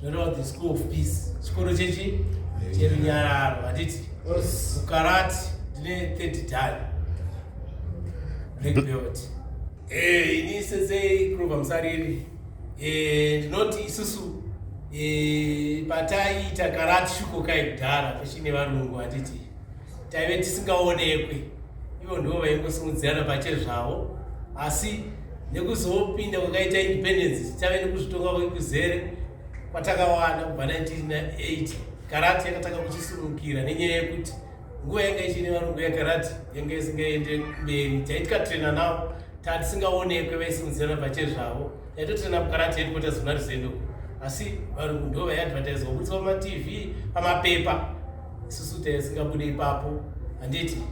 zvoreva the school of peace chikoro chechi cherunyararo handiti ukarati ndine third dan black belt eh, ini sensei grover musariri eh, ndinoti isusu eh, pataiita karati shuko kai kudhara pachine varungu handiti taive tisingaonekwi ivo ndivo vaingosimudzirana pache zvavo asi nekuzopinda kwakaita independence tichave nekuzvitonga kwekuzere kwatakawana kubva 1998 karati yakatanga kuchisurukira nenyaya yekuti nguva yanga ichine varungu yakarati yanga isingaende mberi taitikatrena navo tatisingaonekwe vaisimudzirana pache zvavo yatoti nabukarati headquarters kuna rusendo asi varungu ndo vaiadvertise vabudisa pamatv pamapepa isusu taisingabude ipapo handiti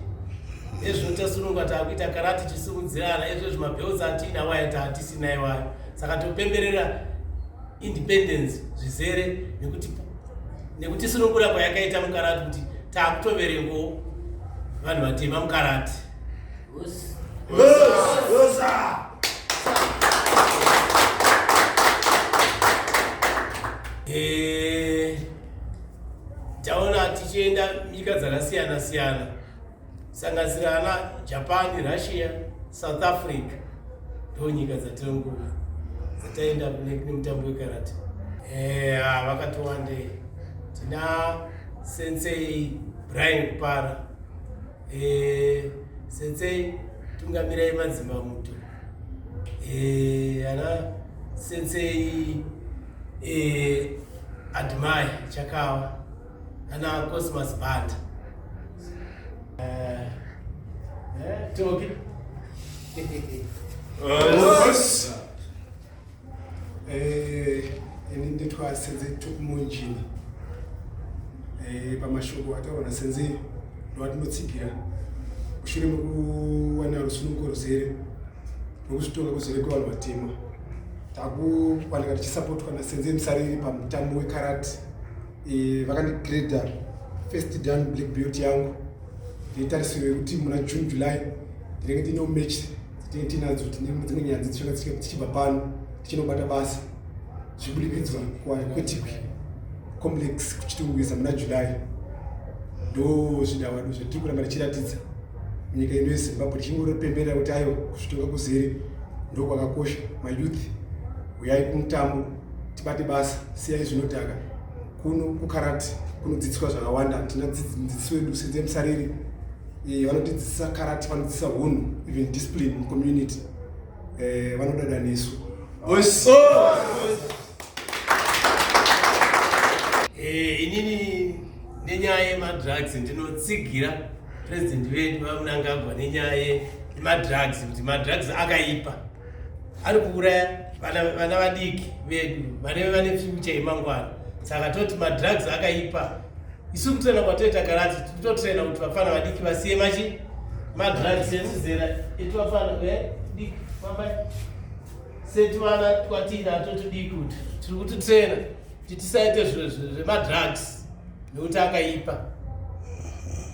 ezvo tasununga taakuita karati chisimudzirana ezvo zvimabelts atiina waya taatisina iwayo saka topemberera independence zvizere nekuti nekuti sunungura kwayakaita mukarati kuti taakutoverengo vanhu vatema mukarati Us. Us. Us. Us. Us. Eh, taona tichienda nyika dzakasiyana siyana sanganisira ana Japan, Russia, South Africa ndo nyika dzatinongoona dzataenda nemutambo wekarate. Eh, ah, vakati wandei tina sensei Brian Kupara Eh, sensei tungamirai madzimba muto eh, ana sensei eh, admai chakawa ana cosmas band eh, eh, toki Eh, ini nditwa senze tukumunjini eh, pamashoko ataurwa nasenze ndovatinotsigira mushure mekuwana rusununguko ruzere rwekuzvitonga kuzere kwevanhu vatema takuwanika tichisapotwa nasenze musariri pamutambo wekarati eh, vakandigreda first dan black belt yangu nditarisiro yekuti muna june july ndinenge ndine umechi tinadzo dzimwe nyaya dzatinoda tichibva pano tichinobata basa zviburikidza kwetikwi complex kuchitungwiza muna july ndo zvidavado zvatiri kuramba tichiratidza nyika ino yezimbabwe tichingoropembera kuti ayo kuzvitonga kuzere ndo kwakakosha mayouth huyai kumutambo tibate basa siyai zvinodhaka kuno kukarati kunodzidziswa zvakawanda tina dzidziso yedu senze musariri Eh, vanotidzidzisa karate vanodzidzisa hunhu even discipline mucommunity eh, vanodada nesu boys eh, inini nenyaya yemadrugs ndinotsigira president vedu vamunangagwa nenyaya yemadrugs kuti madrugs akaipa ari kuuraya vana vadiki vedu vaneve vane future yemangwana saka toti madrugs akaipa isu kutrena kwatoita karati titotrena kuti vafana vadiki vasiye machi madrugs ezizera iti vafana vediki fambai seti vana kwatiina totidiki kuti tiri kuti trena titisaite zvemadrugs nekuti akaipa